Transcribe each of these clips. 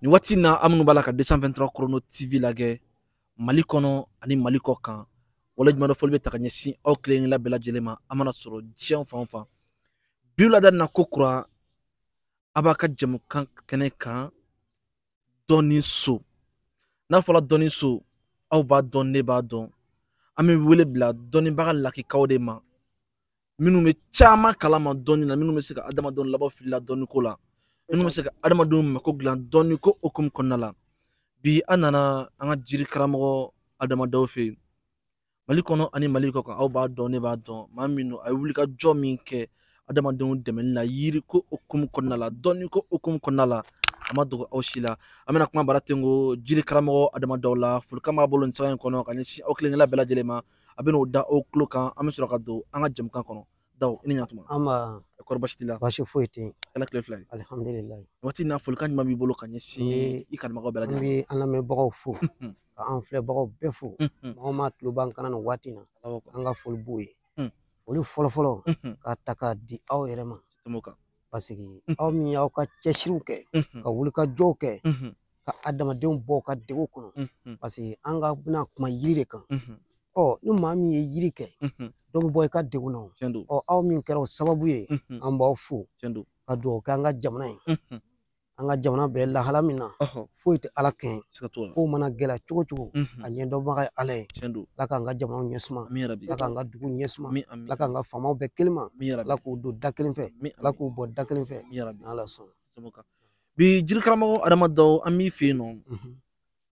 nin waati in na aw minnu b'a la ka 223 chrono tv lagɛ mali kɔnɔ ani mali kɔ kan waleɲumandɔn foli bɛ taa ka ɲɛsin aw kelen-kelenna bɛɛ lajɛlen ma aw mana sɔrɔ diɲɛ fan o fan bi wulada na ko kura an b'an ka jɛmukan kɛnɛ kan dɔnni so n'a fɔra dɔnni so aw b'a dɔn ne b'a dɔn an bɛ wele bila dɔnnibaga lakikaw de ma minnu bɛ caman kalama dɔnni na minnu bɛ se ka adamadenw labɔ fili la dɔnni ko la minnu bɛ se ka adamadenw mako dilan dɔnni ko hukumu kɔnɔna la bi an nana an ka jiri karamɔgɔ adama daw fɛ yen mali kɔnɔ ani mali kɔ kan aw b'a dɔn ne b'a dɔn maa min don a ye wulikajɔ min kɛ adamadenw dɛmɛni la yiri ko hukumu kɔnɔna la dɔnni ko hukumu kɔnɔna la a ma dogo aw si la an bɛna kuma bara ten ko jiri karamɔgɔ adama daw la folikan b'a bolo nin sanga in kɔnɔ ka ɲɛsin aw kelen-kelenna bɛɛ lajɛlen ma a bɛn'o da aw tulo kan an bɛ sɔrɔ ka don an ka jɛmukan kɔnɔ daw i ni ɲatuma nba kɔri baasi t'i la baasi foyi tɛ yen ala tile fila ye alihamdulilayi waati in na folikan ɲuman b'i bolo ka ɲɛsin i kanubagaw bɛɛ lajɛlen an bɛ an lamɛnbagaw fo ka an filɛbagaw bɛɛ fo maa o maa tulo b'an kan na nin waati in na an ka foli b'o ye foli fɔlɔfɔlɔ k'a ta k'a di aw yɛrɛ ma parce que aw min y'aw ka cɛsiriw kɛ ka wulikajɔw kɛ ka adamadenw bɔ u ka degun kɔnɔ parce que an ka bɛna kuma yiri de kan ɔ ni maa min ye yiri kɛ dɔ bɛ bɔ i ka degun na ɔ aw min kɛra o sababu ye an b'aw fo ka dugawu kɛ an ka jamana ye an ka jamana bɛ lahala min na foyi tɛ ala kɛɲɛ ko mana gɛlɛya cogo o cogo a ɲɛdɔnbaga ye ala ye ala k'an ka jamana ɲɛ suma ala k'an ka dugu ɲɛ suma ala k'an ka faamaw bɛn kelen ma ala k'u don da kelen fɛ ala k'u bɔ da kelen fɛ ala sɔnna bi jiri karamɔgɔ adama daw an b'i fɛ yen nɔ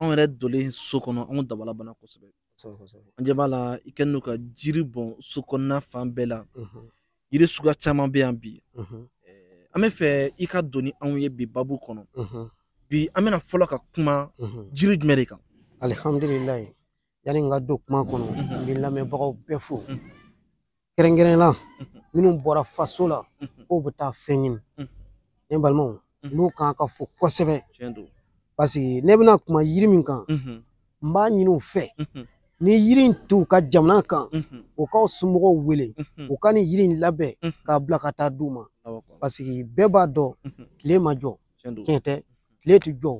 anw yɛrɛ donlen so kɔnɔ anw dabala banna kosɛbɛ an ɲɛ b'a la i kɛlen don ka jiri bɔn so kɔnɔna fan bɛɛ la yiri suguya caman bɛ yan bi an bɛ fɛ i ka don ni anw ye bi babu kɔnɔ bi an bɛna fɔlɔ ka kuma jiri jumɛn de kan alihamdulilayi yanni n ka don kuma kɔnɔ n bɛ lamɛnbagaw bɛɛ fo kɛrɛnkɛrɛn la minnu bɔra faso la k'u bɛ taa fɛn ɲini ne balimaw ninnu kan ka fo kosɛbɛ parce que ne bɛna kuma yiri min kan n b'a ɲini u fɛ ni yiri in t'u ka jamana kan u k'u somɔgɔw wele u ka nin yiri in labɛn k'a bila ka taa d'u ma parce que bɛɛ b'a dɔn tile ma jɔ tiɲɛ tɛ tile tɛ jɔ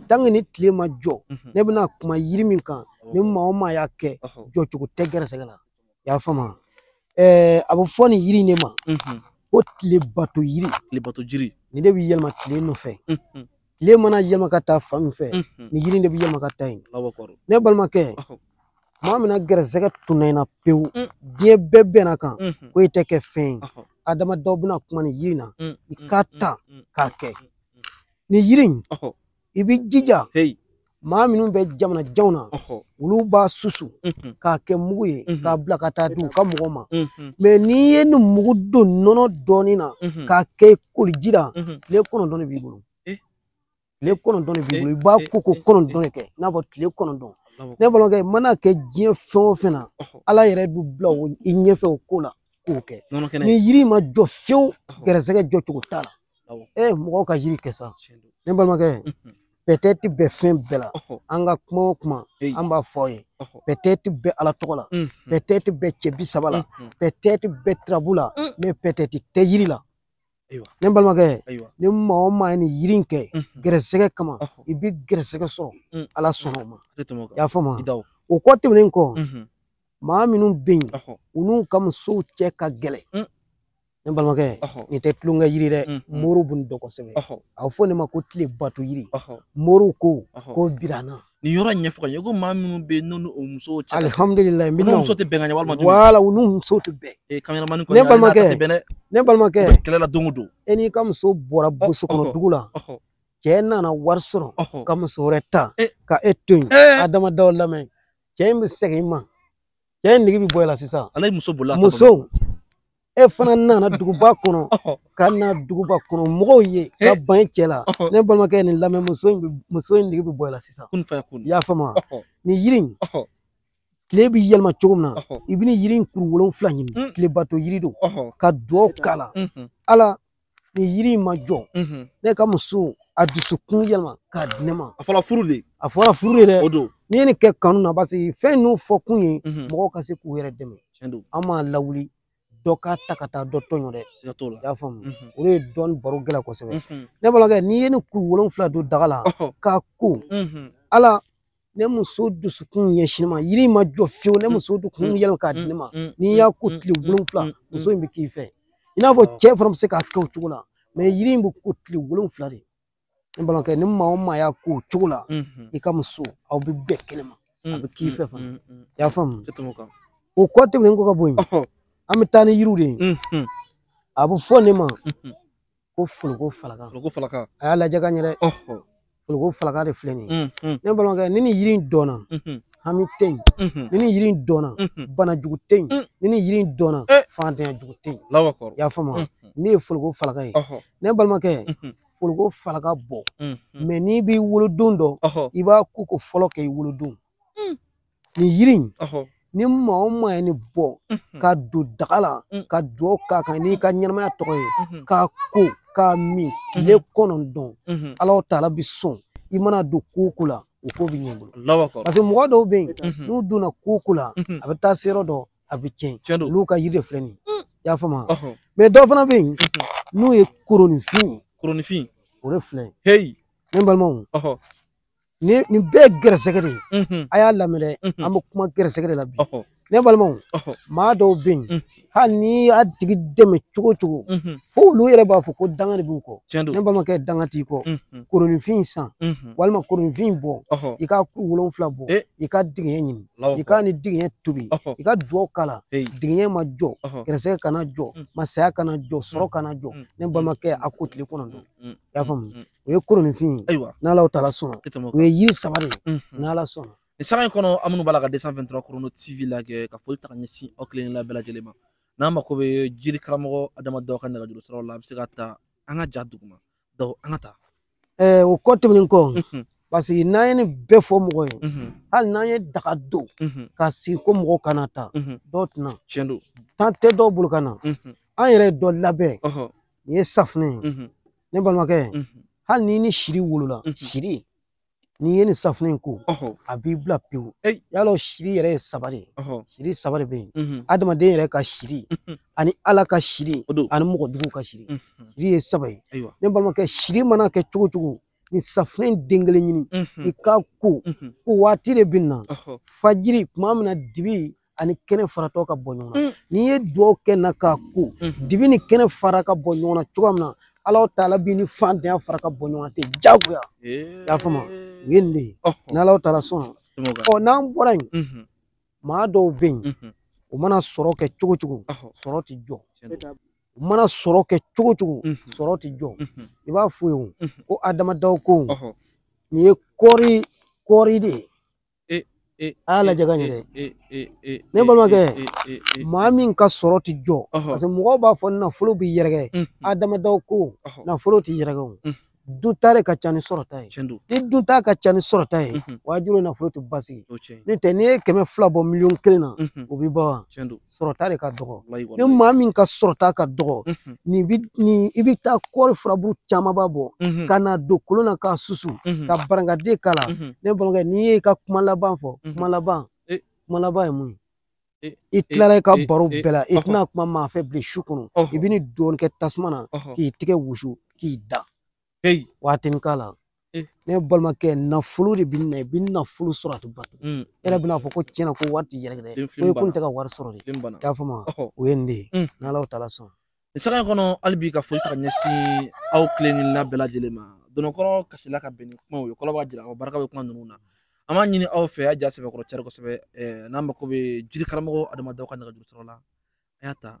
tant que ni tile ma jɔ ne bɛna kuma yiri min kan ni maa o maa y'a kɛ jɔ cogo tɛ gɛrɛsɛgɛ la i y'a faamu ɛɛ a bɛ fɔ nin yiri in de ma ko tile bato yiri tile bato jiri nin de bɛ yɛlɛma tile nɔfɛ tile mana yɛlɛma ka taa fan min fɛ nin yiri in de bɛ yɛlɛma ka taa yen ne balimakɛ maa min na gɛrɛsɛgɛ tunna i na pewu mm. diɲɛ bɛɛ bɛnna kan mhm. ko i tɛ kɛ fɛn ye adama daw bɛna kuma ni yiri na mm, i mm, k'a ta k'a kɛ ni yiri in i bɛ jija maa minnu bɛ jamana janw na olu b'a susu mhm. k'a kɛ mugu ye mhm. k'a bila ka taa di u ka mɔgɔ ma mɛ n'i ye nin mugu don nɔnɔ dɔɔnin na k'a kɛ koliji la tile kɔnɔntɔn de b'i bolo tile kɔnɔntɔn de b'i bolo i b'a ko ko kɔnɔntɔn de kɛ i n'a fɔ tile kɔnɔntɔn ne balimakɛ mana kɛ diɲɛ fɛn o fɛn na ala yɛrɛ bɛ bila i ɲɛfɛ o ko la k'o kɛ ni yiri ma jɔ fiyewu gɛrɛsɛgɛ jɔ cogo t'a la e mɔgɔw ka yiri kɛ sa ne balimakɛ pɛtɛti bɛ fɛn bɛɛ la an ka kuma o kuma an b'a fɔ aw ye pɛtɛti bɛ ala tɔgɔ la pɛtɛti bɛ cɛ bi saba la pɛtɛti bɛ turabu la mɛ pɛtɛti tɛ yiri la Ayiwa. ne balimakɛ Ayiwa. ni maa o maa ye nin yiri in kɛ Unhun. gɛrɛsɛgɛ kama Ɔhɔ. i bɛ gɛrɛsɛgɛ sɔrɔ Mm. ala sɔnna o ma A tɛ tɛmɛ o kan. i y'a faamu I da o. o kɔ tɛmɛnen kɔ Unhun. maa minnu bɛ yen Ɔhɔ. u n'u ka musow cɛ ka gɛlɛn Mm. ne balimakɛ Ɔhɔ. nin tɛ tulonkɛ yiri dɛ Mm, mm. moriw bɛ nin dɔn kosɛbɛ Ɔhɔ. a bɛ fɔ nin ma ko tile bato yiri Ɔhɔ. moriw ko Ɔhɔ. ko birana nin yɔrɔ in ɲɛfɔ ka ɲɛ ko maa minnu bɛ yen n'olu musow cɛ alihamudulila n bɛ n'u muso tɛ bɛn ka ɲɛ walima wala u n'u muso tɛ bɛn ee kameraman kɔni ne balimakɛ ne balimakɛ kɛlɛ la don o don e n'i ka muso bɔra burusi kɔnɔ dugu la cɛ nana wari sɔrɔ ka muso wɛrɛ ta ka e to yen adama daw lamɛn cɛ in bɛ segin i ma cɛ in nege bi bɔ e la sisan ala ye muso bolila muso e fana nana duguba kɔnɔ ka na duguba kɔnɔ mɔgɔw ye ka ban e cɛ la ne balimakɛ nin lamɛn muso in muso in nege bi bɔ e la sisan i y'a faamu wa nin yiri in tile bi yɛlɛma cogo min na i bɛ ni yiri in kuru wolonfila ɲini mm. tilebato yiri don ka duwawu k'a la mm-hmm. ala ni yiri in ma jɔ ne ka muso a dusukun yɛlɛma k'a di ne ma a fɔra furu de a fɔra furu de dɛ o don n'i ye nin kɛ kanu na parce que fɛn ninnu fɔ kun ye mɔgɔw ka se k'u yɛrɛ dɛmɛ an m'a lawuli dɔ k'a ta ka taa dɔ tɔɲɔ dɛ i y'a faamu o de ye dɔnni baro gɛlɛn kosɛbɛ ne balimakɛ n'i ye nin kuru wolonfila don daga la k'a ko ala ne muso dusukun ɲɛsin ma yiri ma jɔ fiyewu ne muso dusukun mm, yɛlɛma k'a mm, di ne ma mm, n'i y'a ko tile wolonfila muso in bɛ k'i fɛ i n'a fɔ cɛ fana bɛ se k'a kɛ o cogo la mɛ yiri in bɛ ko tile wolonfila de ne balimakɛ ni maa o maa y'a ko o cogo la mm-hmm. i ka muso aw bɛ bɛn kɛnɛ ma a bɛ k'i fɛ fana i y'a faamu o kɔ tɛmɛnen kɔ ka bɔ yen an bɛ taa ni yiriw de ye mm-hmm. a bɛ fɔ nin ma mm-hmm. ko foloko falaka foloko falaka a y'a lajɛ ka ɲɛ dɛ foloko falaka de filɛ nin ye ne balimakɛ ni nin yiri in dɔnna hami tɛ yen ni nin yiri in dɔnna banajugu tɛ yen ni nin yiri in dɔnna fantanyajugu tɛ yen i y'a faamu wa nin ye foloko falaka ye ne balimakɛ foloko falaka bɔ mɛ n'i b'i wolodon dɔn i b'a ko ko fɔlɔ kɛ i wolodon Mm. nin yiri in Ɔhɔ. ni maa o maa ye nin bɔ Mhm. ka don daga la Mm. ka duwawu k'a kan n'i ka ɲɛnamaya tɔgɔ ye Mhm. k'a ko k'a min tile kɔnɔntɔn Mhm. Alahu taala bi sɔn i mana don ko o ko la o ko bɛ ɲɛ i bolo Allahu akbar. parce que mɔgɔ dɔw bɛ yen Mhm. n'u donna ko o ko la Mhm. a bɛ taa se yɔrɔ dɔ a bɛ tiɲɛ Tiɲɛ don. olu ka yiri de filɛ nin ye i y'a faamu wa? Ɔhɔ. maa dɔw fana bɛ yen Mhm. n'u ye koronifin ye Koronifin. o de filɛ nin Hey. ye ne balimaw Ɔhɔ. ni nin bɛɛ ye gɛrɛsɛgɛ de ye mhm. a y'a lamɛn mhm. an bɛ kuma gɛrɛsɛgɛ de la bi ne balimaw maa dɔw bɛ yen mhm. hali n'i y'a tigi dɛmɛ cogo cogo fo olu yɛrɛ b'a fɔ ko danga de b'u kɔ ne balimakɛ danga t'i kɔ koronifin san walima koronifin bɔ i ka kuru wolonfila bɔ eh. i ka digiɲɛ ɲini i k'a ni digiɲɛ tobi i ka dugaw k'a la digiɲɛ ma jɔ gɛrɛsɛgɛ kana jɔ masaya kana jɔ sɔrɔ kana jɔ ne balimakɛ a ko tile kɔnɔntɔn i y'a faamu o ye koronifin ye ayiwa n'ala taala sɔnna e o ye yiri saba de ye n'ala sɔnna nin sanga in kɔnɔ aw minnu b'a la ka deux cent vingt-trois Chrono TV lajɛ ka foli ta ka ɲɛsin aw kelen la bɛɛ lajɛlen ma n'aw mako bɛ jiri karamɔgɔ Adama Dawu ka nɛgɛjuru siraw la a bɛ se ka ta an ka ja duguma Dawu an ka taa ɛɛ o kɔ tɛmɛnen kɔ parce que n'an ye nin bɛɛ fɔ mɔgɔ ye hali n'an ye daga don ka sigi ko mɔgɔw ka na ta dɔw tɛ na tiɲɛ don temps tɛ dɔw bolo ka na an yɛrɛ ye dɔ labɛn nin ye safunɛ ye ne balimakɛ hali n'i ni siri wolola siri n'i ye nin safunɛ in ko a b'i bila pewu yala o siri yɛrɛ ye saba de ye siri saba de bɛ yen adamaden yɛrɛ ka siri ani ala ka siri ani mɔgɔ jugu ka siri siri ye saba ye ne balimakɛ siri mana kɛ cogo cogo nin safunɛ in den kelen ɲini i k'a ko ko waati de bɛ na fajiri tuma min na dibi ani kɛnɛ faratɔ ka bɔ ɲɔgɔn na mm. n'i ye dugawu kɛ na k'a ko mm-hmm. dibi ni kɛnɛ fara ka bɔ ɲɔgɔn na cogoya min na ala taala b'i ni faantanya fara ka bɔ ɲɔgɔn na ten jagoya eh. i y'a faamu o ye nin de ye n'ala taala sɔnna n'an bɔra yen mm-hmm. maa dɔw bɛ yen mm-hmm. u mana sɔrɔ kɛ cogo cogo sɔrɔ tɛ jɔ u mana sɔrɔ kɛ cogo cogo sɔrɔ tɛ jɔ i b'a f'u ye ko Adama Dawu ko nin ye kɔɔri kɔɔri de ye Ee, ee, a y'a lajɛ ka ɲɛ dɛ Ee, ee, ee, Ne balimakɛ, ee, ee, ee, maa min ka sɔrɔ ti jɔ ɔhɔ, parce que mɔgɔw b'a fɔ nafolo bɛ yɛrɛkɛ mhm, Adama Dawu ko ɔhɔ, nafolo tɛ yɛrɛkɛ o Mm. dunta de ka ca ni sɔrɔta ye tiɲɛ don. ni dunta ka ca ni sɔrɔta ye Mhm, wajibi nafolo tɛ basigi o tiɲɛ ye. n'o tɛ n'i ye kɛmɛ fila bɔ miliyɔn kelen na Mhm, o bi ban wa tiɲɛ don. sɔrɔta de ka dɔgɔ ni maa min ka sɔrɔta ka dɔgɔ nin bi nin i bi taa kɔɔri furabulu camanba bɔ ka na don kolon na k'a susu ka barakante k'a la ne balimakɛ n'i ye i ka kuma laban fɔ kuma laban e. kuma laban ye mun ye e. i e. tilala i ka baro bɛɛ la i tɛna kuma maa fɛ bilen su kɔnɔ i bɛ nin dɔɔni kɛ tasuma na k'i tɛgɛ wusu k'i da Hey. waatinin k'a la Eh. ne balimakɛ nafolo de bɛ na i bɛ nafolo sɔrɔ a tɛ ban Mm. e yɛrɛ bɛna fɔ ko tiɲɛna ko wari tɛ yɛrɛ dɛ ko n tɛ ka wari sɔrɔ de i y'a faamu Ɔhɔ. o ye nin de ye Mm. n'Alahu taala sɔnna nin saga in kɔnɔ hali bi ka foli ta ka ɲɛsin aw kelen-kelenna bɛɛ lajɛlen ma dononkɔrɔ kasila ka bɛn ni kumaw ye kɔrɔ b'a jira aw barika bɛ kuma ninnu na an b'a ɲini aw fɛ a y'a sɛbɛkɔrɔ cari kosɛbɛ ɛɛ n'aw mako bɛ jiri karamɔgɔ Adama Daw ka nɛgɛjuru sira la a y'a ta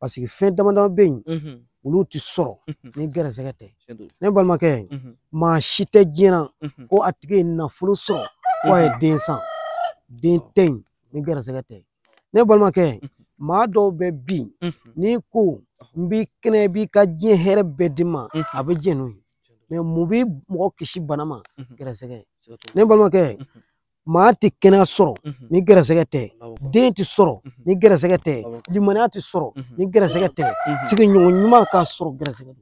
paseke fɛn dama dama bɛ yen olu tɛ sɔrɔ ni gɛrɛsɛgɛ tɛ ne balimakɛ maa si tɛ diɲɛ na ko a tigi ye nafolo sɔrɔ ko a ye den san den tɛ yen ni gɛrɛsɛgɛ tɛ ne balimakɛ maa dɔw bɛ bi n'i ko n b'i kɛnɛya i b'i ka diɲɛ hɛrɛ bɛɛ di n ma a bɛ diɲɛ n'o ye mɛ mun bɛ mɔgɔ kisi bana ma gɛrɛsɛgɛ ne balimakɛ maa tɛ kɛnɛya sɔrɔ ni gɛrɛsɛgɛ tɛ den tɛ sɔrɔ ni gɛrɛsɛgɛ tɛ limaniya tɛ sɔrɔ ni gɛrɛsɛgɛ tɛ sigiɲɔgɔn ɲuman k'a sɔrɔ gɛrɛsɛgɛ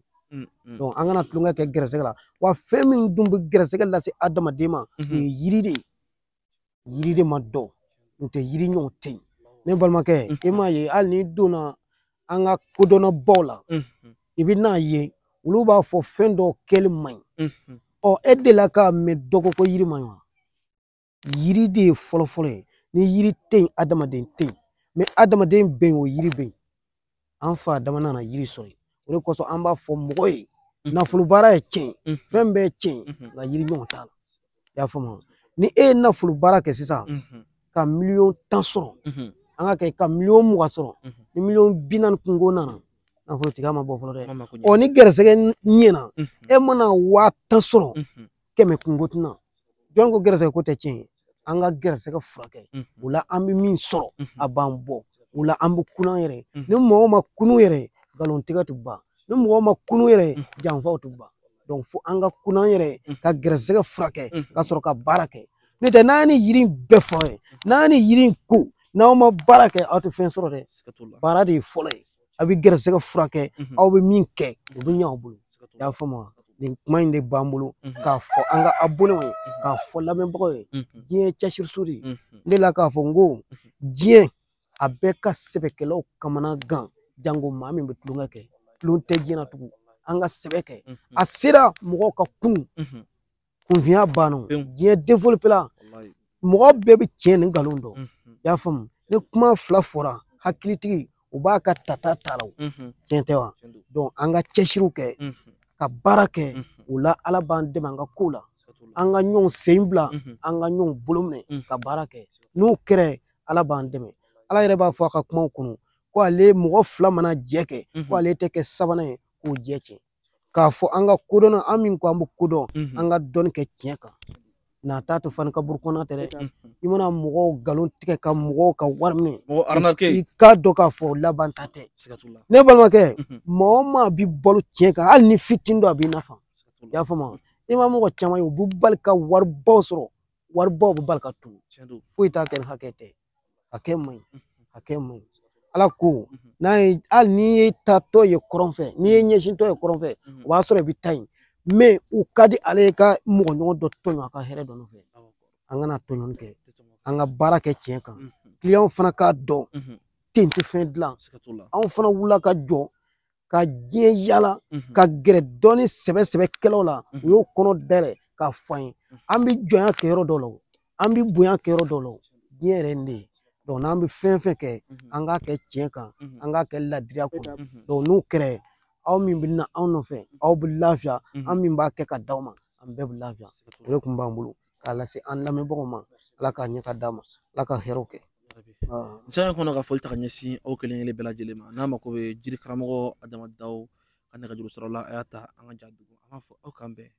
don an kana tulonkɛ kɛ gɛrɛsɛgɛ la wa fɛn min dun bɛ gɛrɛsɛgɛ lase adamaden ma o ye yiri de ye yiri de ma dɔn n'o tɛ yiri ɲɔgɔn tɛ yen ne balimakɛ e m'a ye hali n'i donna an ka kodɔnnabaw la i bɛn'a ye olu b'a fɔ fɛn dɔw kɛli man ɲi ɔ e delila k'a mɛn dɔ ko ko yiri man ɲi wa yiri de ye fɔlɔfɔlɔ ye ni yiri tɛ yen adamaden tɛ yen mɛ adamaden bɛ yen o yiri bɛ yen an fa Adama nana yiri sɔrɔ yen o de kosɔn an b'a fɔ mɔgɔ ye nafolo baara ye tiɲɛ fɛn bɛɛ ye tiɲɛ nka yiri ɲɔgɔn t'a la i y'a faamu ni e ye nafolo baara kɛ sisan ka miliyɔn tan sɔrɔ an k'a kɛ ka miliyɔn mugan sɔrɔ ni miliyɔn bi naani kunko nana nafolotigiya ma bɔ fɔlɔ dɛ ɔ ni gɛrɛsɛgɛ ɲɛna e mana waa tan sɔrɔ kɛmɛ kunko tɛ na jɔn ko gɛrɛsɛgɛ ko tɛ tiɲɛ ye an ka gɛrɛsɛgɛ furakɛ o la an bɛ min sɔrɔ a b'an bɔ o la an bɛ kunun an yɛrɛ ni mɔgɔ ma kunun yɛrɛ nkalon tigɛ tɛ ban ni mɔgɔ ma kunun yɛrɛ janfaw tɛ ban donc fo an ka kunun an yɛrɛ mm. ka gɛrɛsɛgɛ furakɛ mm. ka sɔrɔ ka baara kɛ n'o tɛ n'an ye yiri bɛɛ fɔ ye n'an ye yiri ko n'aw ma baara kɛ aw tɛ fɛn sɔrɔ dɛ baara de ye fɔlɔ ye a bɛ gɛrɛsɛgɛ furakɛ mm-hmm. aw bɛ min kɛ o bɛ ɲɛ aw bolo i y'a faamu wa nin kuma in de b'an bolo mm-hmm. k'a fɔ an ka abonnew ye mm-hmm. k'a fɔ lamɛnbagaw ye diɲɛ cɛsiriso de ye ne delila k'a fɔ n ko diɲɛ a bɛ ka sɛbɛkɛlaw kamana gan jango maa min bɛ tulonkɛ kɛ tulon tɛ diɲɛ na tugun an ka sɛbɛ kɛ a sera mɔgɔw ka kunun kunfinya banna diɲɛ defolopela mɔgɔ bɛɛ bɛ tiɲɛ ni nkalon dɔn i y'a faamu ni kuma fila fɔra hakilitigi b'a ka tata ta a la tiɲɛ tɛ wa donc an ka cɛsiriw kɛ ka baara kɛ o la ala b'an dɛmɛ an ka ko la an ka ɲɔgɔn sen bila an ka ɲɔgɔn bolo minɛ ka baara kɛ n'o kɛra ala b'an dɛmɛ ala yɛrɛ b'a fɔ a ka kumaw kɔnɔ ko ale mɔgɔ fila mana jɛ kɛ ko ale tɛ kɛ sabanan ye k'o jɛ tiɲɛ k'a fɔ an ka kodɔn an min ko an bɛ kodɔn an ka dɔnni kɛ tiɲɛ kan n'a t'a to fani kaburu kɔnɔ tɛ dɛ i mana mɔgɔw nkalon tigɛ ka mɔgɔw ka wari minɛ i k'a dɔn k'a fɔ laban ta tɛ ne balimakɛ maa o maa bɛ balo tiɲɛ kan hali ni fitinin don a b'i nafa i y'a faamu i ma mɔgɔ caman ye u bɛ bali ka waribaw sɔrɔ waribaw bɛ bali ka tunun foyi t'a kɛ ni hakɛ tɛ hakɛ man ɲi hakɛ man ɲi ala ko n'a ye hali n'i ye taatɔ ye kɔrɔn fɛ n'i ye ɲɛsintɔ ye kɔrɔn fɛ o b'a sɔrɔ i bɛ taa yen mɛ o ka di ala ye ka mɔgɔ ɲɔgɔn dɔ tɔɲɔ a ka hɛrɛ dɔ nɔfɛ an kana tɔɲɔni kɛ an ka baara kɛ tiɲɛ kan kiliyanw fana k'a dɔn ten tɛ fɛn dilan anw fana wulila ka jɔ ka diɲɛ yala ka gɛrɛ dɔɔni sɛbɛ sɛbɛkɛlaw la u y'u kɔnɔ dayɛlɛ k'a fɔ an ye an bɛ jɔnya kɛ yɔrɔ dɔw la an bɛ bonya kɛ yɔrɔ dɔw la diɲɛ yɛrɛ nin de ye donc n'an bɛ fɛn fɛn kɛ an k'a kɛ tiɲɛ kan an k'a kɛ ladiriya kɔnɔ donc n'o kɛra aw min bɛ na anw nɔfɛ aw bɛ lafiya an min b'a kɛ ka d'aw ma an bɛɛ bɛ lafiya o de kun b'an bolo k'a lase an lamɛnbagaw ma ala k'a ɲɛ ka d'a ma ala ka hɛrɛw kɛ san kɔnɔ ka foli ta ka ɲɛsin aw kelen kelen bɛɛ lajɛlen ma n'a mako bɛ jiri karamɔgɔ adama daw ka nɛgɛjuru sɔrɔ la a y'a ta an ka ja dugu an b'a fɔ aw k'an bɛn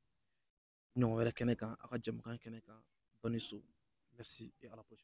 ɲɔgɔn wɛrɛ kɛnɛ kan aw ka jɛmukan kɛnɛ kan dɔnni so merci et à la prochaine